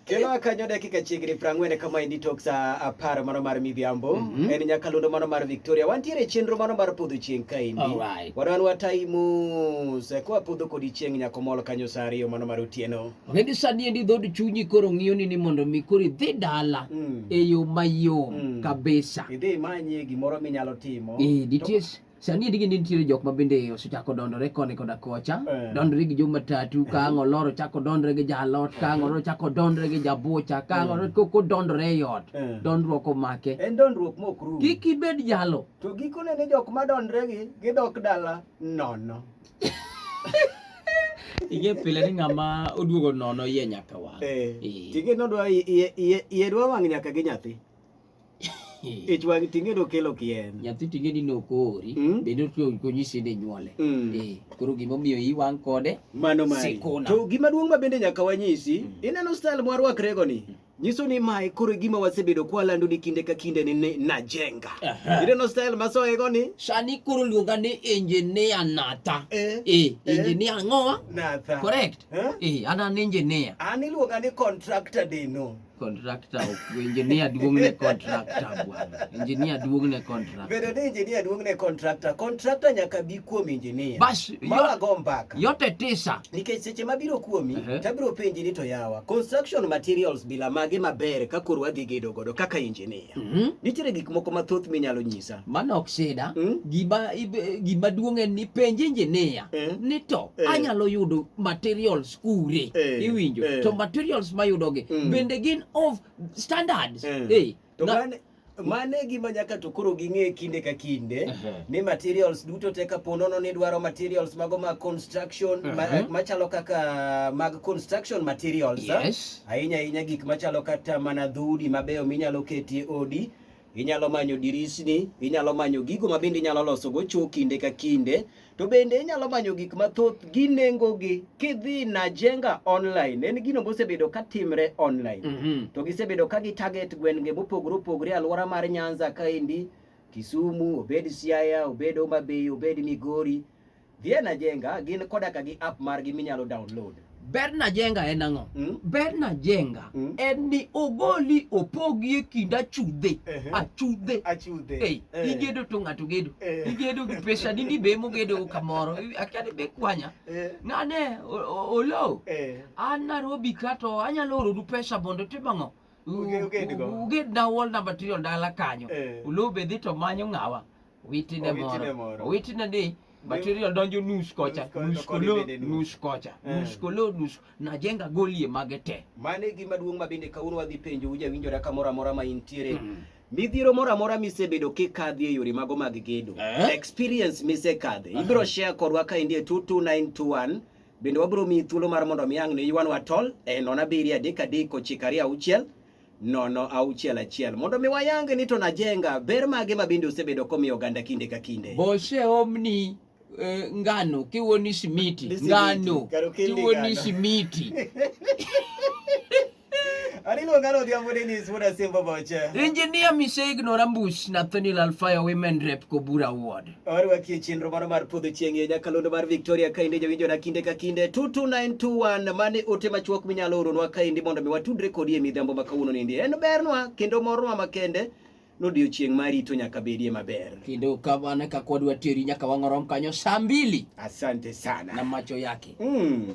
Kendo akanyo dakika chiegni prang'wen kama endi tok sa apar mano mar midhiambo mm -hmm. en nyakalondo mano mar Victoria wantiere chenro mano mar podho chieng' ka endi right. wadwan watayi mos koa podho kodi chieng' nyako mol kanyo sa ariyo mano mar otieno okay, gi sani endi dhod chunyi koro ng'iyo ni ni mondo mi koro idhi dala mm. e yo mayom mm. kabisa idhi imanye gimoro minyalo timo e, Sani endi gini nitiere jok ma bende osechako dondore koni koda kocha, eh. dondore gi jomatatu, eh. kaang' oloro chako dondore gi jalot, kaang' oloro chako dondore gi jabucha, kaang' eh. oloro ko dondore e ot, dondruok omake. En dondruok mok rum. Kik ibed jalo. To gikone ni jok ma dondore gi gidok dala nono. Ige pile ni ng'ama oduogo nono iye nyaka wang'. Eh. Tige nodwa iye dwa wang' nyaka gi nyathi. ich wang' ting'e nokelo kien nyathi ting'e ni nokori mm. bende konyisi ni nyuole mm. eh, koro gimomiyo iwang' kode mano mari to gima duong' ma bende nyaka wanyisi mm. ineno style mwarwakrego ni mm. nyiso ni mae koro gima wasebedo kwalando ni kinde ka kinde ni najenga ineno style masoego ni sani koro luonga ni engineer nata eh, eh, eh. engineer eh. ngoa nata correct eh? eh, an an engineer an iluonga ni contractor deno Contractor ok engineer duong ne contractor bwana. Engineer duong ne contractor. Bedo ni engineer duong ne contractor. Contractor nyaka bi kuom engineer. Bas mama go mbaka. Yote tisa. Nikech seche mabiro kuomi uh -huh. tabiro penji ni to yawa. Construction materials bila mage maber ka koro wadhi gedo godo kaka engineer. Uh mhm. -huh. Nitiere gik moko mathoth minyalo nyisa. Mano ok sida. Uh mhm. -huh. Gima gima duong en ni penji engineer. Uh mhm. -huh. Ni to uh -huh. anyalo yudo materials kure eh, iwinjo eh. to materials mayudogi mm. bende gin of standards eh. Eh. To na, mane, mane gima nyaka to koro ging'e kinde ka kinde uh -huh. ni materials duto te ka ponono ni dwaro materials mago mag construction uh -huh. machalo kaka mag construction materials yes. ahinya ahinya gik machalo kata mana dhudi mabeyo minyalo ketie odi Inyalo manyo dirisni, inyalo manyo gigo ma bende inyalo losogo cho kinde ka kinde, to bende inyalo manyo gik mathoth gi nengogi kidhi na jenga online. En gino mosebedo ka timre online. Mm -hmm. To gisebedo ka gi target gwenge mopogore opogore alwora mar Nyanza kaendi, Kisumu, obed Siaya, obed Homa Bay, obed Migori. Dhi e Najenga, gin koda ka gi app margi minyalo download. Ber Najenga en ang'o? Mm. Ber Najenga Mm. en ni ogoli opogi e kind achudhe, Ehe. achudhe. Achudhe. Ei, Eh. igedo to ng'ato gedo. Eh. Igedo gi pesa ni ni be mogedo kamoro. Akia ni be kwanya. Eh. Nane o- o- olo. Eh. An Nairobi ka to anyalo oronu pesa mondo tim ang'o? U- Uge- ugedgo. u- Ugedna wall number trio dala kanyo. Eh. Olo be dhi to manyo ng'awa. witine moro witine ni material donjo nus kocha nus kolo nus kocha eh. nus kolo nus najenga golie mage te mane gima duong' ma bende kawuono wadhi penjo uja winjora kamoro amora ma intiere mm. midhiero moro amora misebedo kikadhi e yore mago mag gedo eh? experience misekadhe ibiro share kodwa ka indie 22921 bende wabiro miyi thuolo mar mondo miyang' ne yuanwa tol e eh, nona biri adek adek ochiko ariyo auchiel nono auchiel achiel mondo mi wayang ni to najenga ber mage ma bende osebedo komiyo oganda kinde ka kinde boseomni eh, ngano kiwoni simiti Ni simiti, ngano kar okelni kiwoni ngano. simiti Anilo ngano odhiambo Dennis wuod Asembo Boche. injinia miseignora mbuch nathaniel alfayo women rep kobura ward Warwaki e chenro mano mar podho chieng' e nyakalondo mar Victoria kaendi jawinjona kinde ka kinde 22921 mane ote machuok minyalo oronwa kaendi mondo mi watudre kodi e midhiambo ma kawuono nindi. En bernwa kendo mornwa makende nodiochieng' ma rito nyaka bedie maber. Kendo kamano ka kod wateri nyaka wang'orom kanyo saa mbili. Asante sana. Na macho yake. Mm.